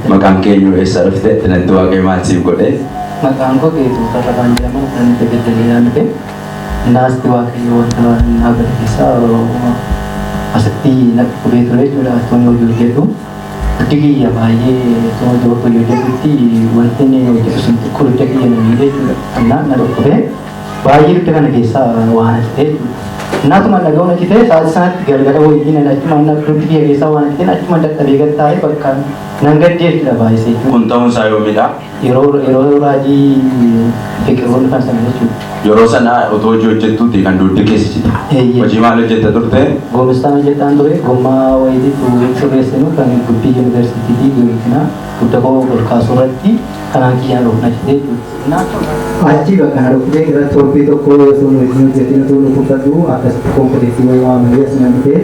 Maqaan keenyu eessa dhufte? Natti waaqee maal siif godhe? Maqaan koo Geetuu Tarrafaan jedhama. Kan itti beddelii naan dhufe. Naasti waaqayyo wanta naa godhe keessaa asitti na dhukubee ture jechuudha. Asitti hojii hojjedhu. Huddi kiyya baay'ee tuma jiru fayyoo jedhutti wanti inni yoo jedhu sun xiqqoo hidda kiyya na miidhe jechuudha. Innaan na dhukkube baay'ee hidda kana keessaa waan hidhite jechuudha. Innaa tuma na ga'uun hidhite sa'aatii sanatti galgala wayii na achuma na huddi kiyya keessaa waan hidhite achuma dadhabee gad taa'ee bakka nan gaddee jechuudha baay'isee. Kun ta'uun isaa yoomidha? Yeroo yeroo raajii fiqiroonni faarsan jechuudha. Yeroo sana otoo hojii hojjettuuti kan dugdi keessa cite. Eeyyee. Hojii maal hojjetta turte? Goomestaan hojjetaan ture gommaa wayitiif hin sirreessinu kan guddi yuunivarsiitiitii guutina gudda koo ol kaasuu irratti kanaan kiyyaan of na cite jechuudha. Achi bakka na dhukkubee irra torbee tokko osoo hin hojii hojjetiin utuu dhukkubsadhu akkasitti konkoleettii wayii waamanii as nan dhufe.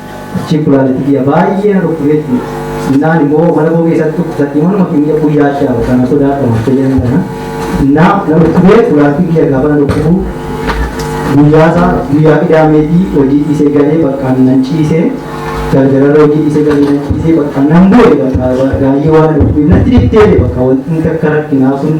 Achiin kulaaleetti kiyya baay'ee na dhukkubeetti. Innaan immoo mana koo keessatti dhukkubsatti manuma keenya guyyaa shaa kana sodaadha fayyadama kana. Innaa na dhukkubee kulaaleetti kiyya gaafa na dhukkubu guyyaa isaa guyyaa qidaameetii hojii dhiisee galee bakka nan ciisee galgalarra hojii dhiisee galee nan ciisee bakka nan bu'e bakka gaayyoo waan na dhukkubeef natti dhiftee bakka wanti akka rakkinaa sun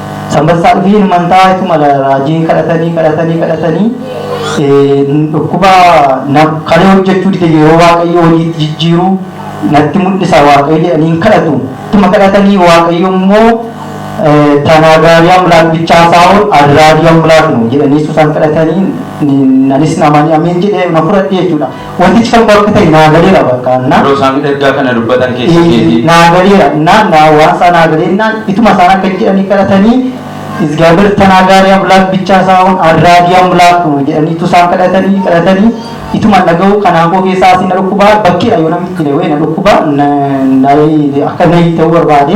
Sanbassaa dhufii ilmantaa itti mala raajiin kadhatanii kadhatanii kadhatanii dhukkuba kalee hojjechuu dide yeroo waaqayyo hojiitti jijjiiru natti mul'isa waaqayyo jedhanii kadhatu ittuma kadhatanii waaqayyo immoo tanaa gaarii amlaak bichaa saa'oon adraadii amlaak nu jedhanii susan kadhatanii nanis namanii ameen jedhee na fudhadhe jechuudha. Wantichi kakuu akka ta'e naa galeera bakka na. Yeroo isaan ergaa kana dubbatan keessa Ee, keetii. naa galeera na na waan isaa naa galeennaan ituma isaan akka jedhanii kadhatanii izgaabeer tanaagaari amlaak bichaa isaa hun arraagii amlaak nu jedhanii tu isaan kadhatanii kadhatanii ituma dhaga'u kanaan koo keessaa asii na dhukkubaa bakkeedha yoo namitti leewee na dhukkubaa na na akka na ta'uu barbaade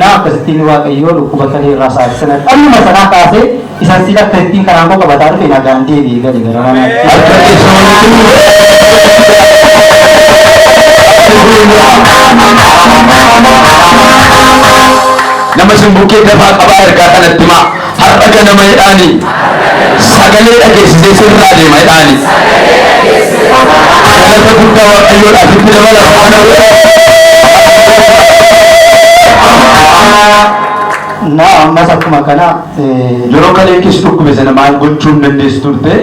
Naa akkasittiin Waaqayyoo dhukkuba saree irraa saare sana dhalluma sanaa kaasee isan sila akkasittiin karaan koo qabataa dhufe nagaan deebi'ee gale gara manaatti. Nama isin bukkee dafaa qabaa ergaa kanatti himaa. Har'a ganama jedhaani. Sagalee dhageessisee sirraa deema jedhaani. Galata guddaa Waaqayyoodhaaf itti dabalama. Kana booda Na ammas akkuma kana eh, yeroo kalee kis dhukkube sana maal gochuu hin dandeessu turte?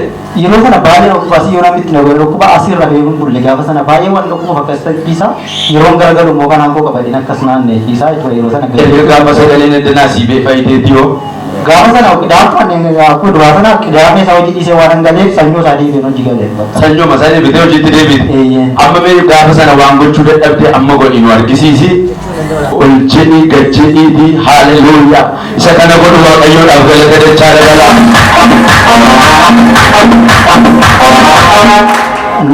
Yeroo sana baay'ee na dhukkuba asii yoo namni itti na godhe dhukkuba asii irra ba'ee hin bulle gaafa sana baay'ee waan dhukkuba fakka isa dhiisa yeroon garagalu immoo kanaan koo qabadeen akkas naannee dhiisaa jechuudha yeroo sana Erga gaafa sagaleen eddanaa sii bee fayyitee dhiyoo. gaafa sana qidaama akkuma duraa sana qidaamee isaa hojii dhiisee waan hangaleef sanyoo isaa deebiin hojii galee Sanyoo masaa deebitee hojiitti deebiite. Eeyyee. Amma mee gaafa sana waan gochuu dadhabde amma godhi nu argisiisi. Ol jedhii gad jedhiitii haaleluyyaa isa kana godhu waaqayyoodhaaf galata dachaa dabala.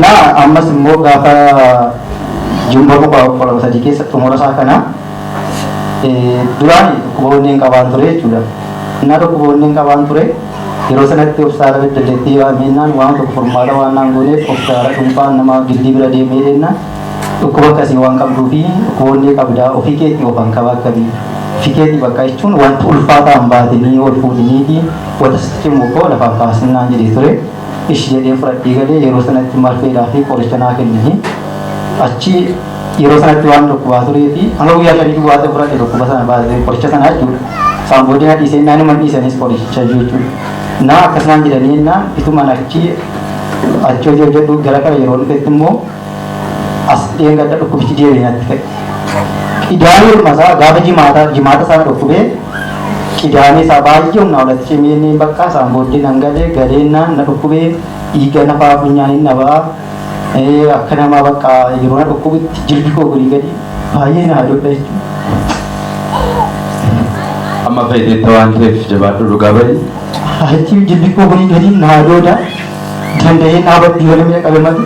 Na ammas immoo gaafa jumba boqaa kudha sadii keessa xumura isaa kana duraan dhukkuba onneen qabaan ture jechuudha. Innaa dhukkuba onneen qabaan ture yeroo sanatti obsaara beddelleettii yaamennaan waan tokko furmaata waan naan gooneef obsaara dhuunfaan nama gildii bira deemee deemnaan Dhukkuba akkasii waan qabduufi dhukkuboollee qabdaa ofii keetii of hankaba akkatii ofii keetii bakka jechuun wanti ulfaataa hin baatinii ol fuudhiniiti wata sitti cimu koo lafaan kaasin naan jedhee ture ishi jedheen fudhadhee galee yeroo sanatti marfeedhaa fi qoricha naa kennanii achi yeroo sanatti waan dhukkubaa turee fi hanga guyyaa shanii duwwaa ta'e fudhadhe dhukkuba sana baatee qoricha sana jechuudha isaan booddee na dhiisee naan himan dhiisanis qoricha jechuudha naa akkas naan jedhanii naan ituman achi achi hojii hojjedhu gara kana yeroo dhufetti immoo As dheengadda dhukkubichi deebi'ee natti ka'e. Qidaamee dhuma isaa gaafa jimaataa jimaata isaa na dhukkubee qidaamee isaa baay'ee humnaa olatti cimee inni bakka isaan booddee nan galee galeennaan na dhukkubee dhiiga nafaa funyaan hin dhabaa Eh, akka namaa bakka yeroo na dhukkubutti jilbi koo gadi gadi baay'ee na hadoodha jechuudha. Amma fayyadamta waan ta'eef jabaadhu dhugaa bahi. Achi jilbi koo gadi gadi na hadooda danda'ee dhaabatti yoo namni qabe malee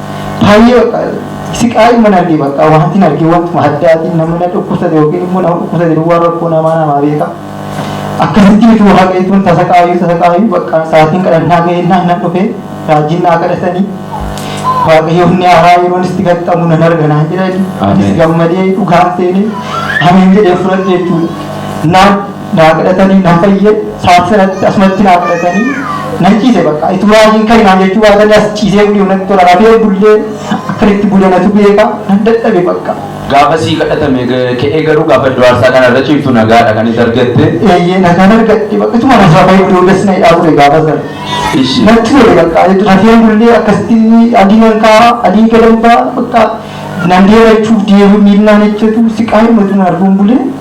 Baay'ee bakka siqaayi mana argee bakka wanti hin argee wantuma addaatiin nama na dhukkubsate yookiin immoo nama dhukkubsate duwwaa rakkoo namaa namaa beeka. Akkasitti utuu waaqayyoon tasa qaayuu tasa qaayuu bakka sa'aatiin kadhannaa ga'ee naan nan dhufee raajiin naa kadhatanii waaqayyoon ni haaraa yeroon itti gaxxamu nan arga naan jedhanii Ameen. anis gammadee dhugaan seenee ameen jedhee fudhadhe jechuudha. Naan naa kadhatanii nan fayye saat sanatti asumatti naa kadhatanii nan ciise bakka itti muraajiin kan naan jechuu baatanii as ciisee bulii natti tola rafee bullee akkanitti bulee natu beeka nan dadhabe bakka. Gaafa sii kadhatame ka'ee garuu gaafa iddoo aarsaa kana irra ciiftu nagaadha kan itti argatte. Eeyyee nagaan argadhe bakka ituma na rafee iddoo das na hidhaa ture gaafa sana. Ishi. Natti tole bakka rafee bullee akkasitti adii nan kaa'aa adii gadan ba'a bakka nan deema jechuuf deemu miillaan ejjetu siqaa himatu na arguun bulee.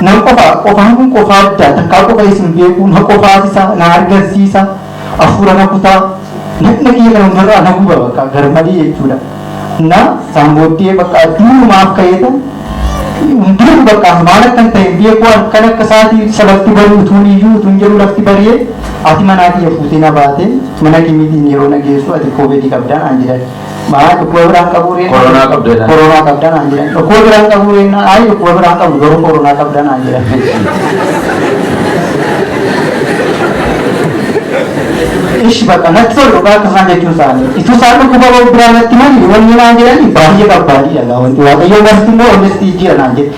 Nan qufa, qufaan kun qufa addaa, takkaa qufa isin beekuu, na qufaasisa, na hargansiisa, afuura na kuta, dhaqna kiyya kana hundarraa na guba bakka garmalee jechuudha. Na saan booddee bakka durumaaf ka'eetan hin beeku bakka maal akkan ta'e hin beeku halkan akka sa'aatii salatti bari utuun iyyuu utuun jedhu lafti bari'e ati manaa kiyya fuutee na baate mana kimiitiin yeroo na geessu ati koobeedii qabdaa naan jedhan. Maal dhukkuba biraan qabuu ree? Koronaa qabda jedhan. Koronaa qabda naan jedhan. Dhukkuba biraan qabuu ree? Ayi dhukkuba biraan qabu garuu koronaa qabda naan jedhan. Ishi bakka natti tolu dhugaa akka isaan jechuun isaanii. Ituu isaan dhukkuba biraan natti mali wanni naan jedhani baay'ee barbaadii dhala wanti waaqayyoon barsiisu immoo wanni itti jijjiira naan jedhe.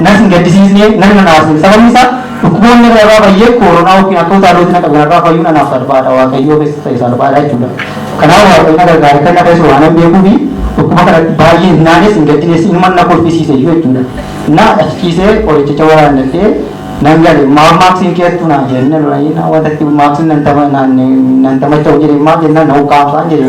Natti hin gaddisiisne, natti hin aarsiine. Sababni isaa dhukkuboonni irra irraa fayyee kooronaa ykn akka utaalootti na qabe irraa fayyuun anaaf salphaadha. Waaqayyoofis ta'e salphaadha jechuudha. Kanaaf Waaqayyo na gargaare akka inni na fayyisu waanan beekuufi dhukkuba kanatti baay'ee hin naanes hin gaddines inuman na kolfisiise iyyuu jechuudha. Na achi ciisee qorichicha waraannadhee nan gale. Maaf maaksiin kee hattuu naan jedhe. Inni na lolanii na wanta itti maaksiin nan tama naan nan tamacha'u jedhe maaf jennaan na ukkaamsaan jedhe.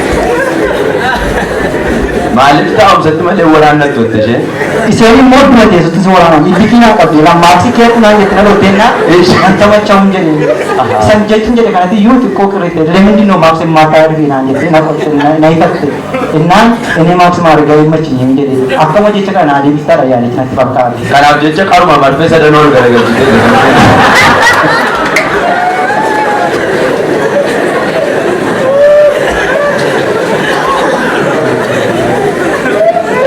Maaliif taa'umsatti malee waraannatti turte isheen? Isheen immoo dura teessutti si waraanan itti kiinaa qabdee laa maaksii kee kunaan jetti dhaloo teennaa kan taphachaa hin jedhe. San jechuun jedhe kanatti iyyuu xiqqoo qirrite lemindi noo maaksii maataa ergi naan jette na qotte na hitatte. Innaan inni maaksii maargaa hin machiin hin jedhe. Akkama jecha kana adeemsisaa dha yaalichi natti fakkaate. Kanaaf jecha qaruma marfee sadanuu ol garagalchitee jirti.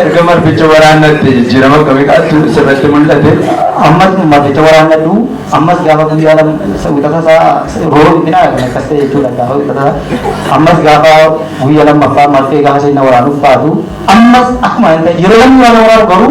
Erga marficha waraannatte jijjiirama akkamii qaatu sirratti mul'ate. ammas marficha waraannadhu ammas gaafa guyyaa lama wixata isaa rooba dhiphina kan akkas ta'e jechuudha gaafa wixata ammas gaafa guyyaa lammaffaa marfee gaafa seenna waraanuuf baatu ammas akkuma yeroo namni waan waraanu garuu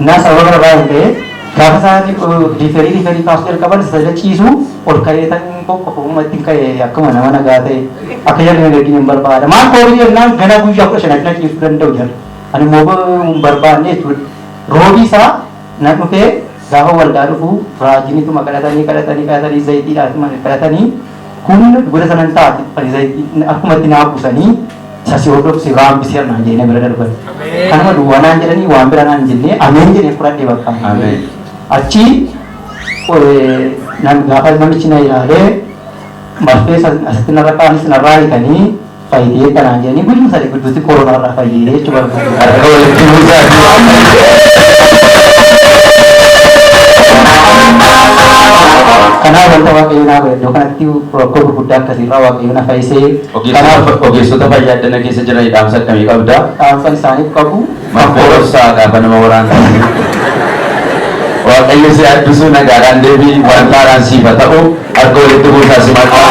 na sababa kana irraa kan ka'e gaafa isaan riiferii riiferii kaasuu jalqaban sajda ciisu ol ka'ee tan qoqqofa uumma ittiin ka'e akkuma nama nagaa ta'e akka jarri na gaggin hin barbaada maal koobii jennaan gana guyyaa kudha shan addina ciisuu danda'u jarri ani immoo hin barbaanne jechuudha roobii isaa na dhufee gaafa waldaa dhufu raajinituma kadhatanii kadhatanii kadhatanii zayitiidhaatuma kadhatanii humna goda sanan taate ani zayitii akkuma itti naa buusanii Isa si hordofu si irraa hambiseera naan jedhee na bira darbani. Kanuma duwwaa naan jedhanii waan bira naan hin jennee ameen jedhee fudhadhe bakka. Ameen. Achi eh, nam- gaafa namichi na ilaalee marfee san asitti narra kaanis narraa hiikanii fayyitee akka naan jedhanii guyyuma sadii gidduutti koronaa irraa fayyee jechuu barbaadu. Harka walitti buusaa. Kanaaf wanta waaqayyo naa godhe iddoo kanatti rakkoo gurguddaa akkasiirraa waaqayyo na fayyisee Kanaaf ogeessota fayyaa addana keessa jiraniif dhaamsa akkamii qabda? Dhaamsa isaaniif qabu. Marfee dhoksaa gaafa nama waraantu. Waaqayyo si haa eebbisu nagaadhaan deebi'i waan taaraan siif haa ta'u harka walitti buusaa si maqaa.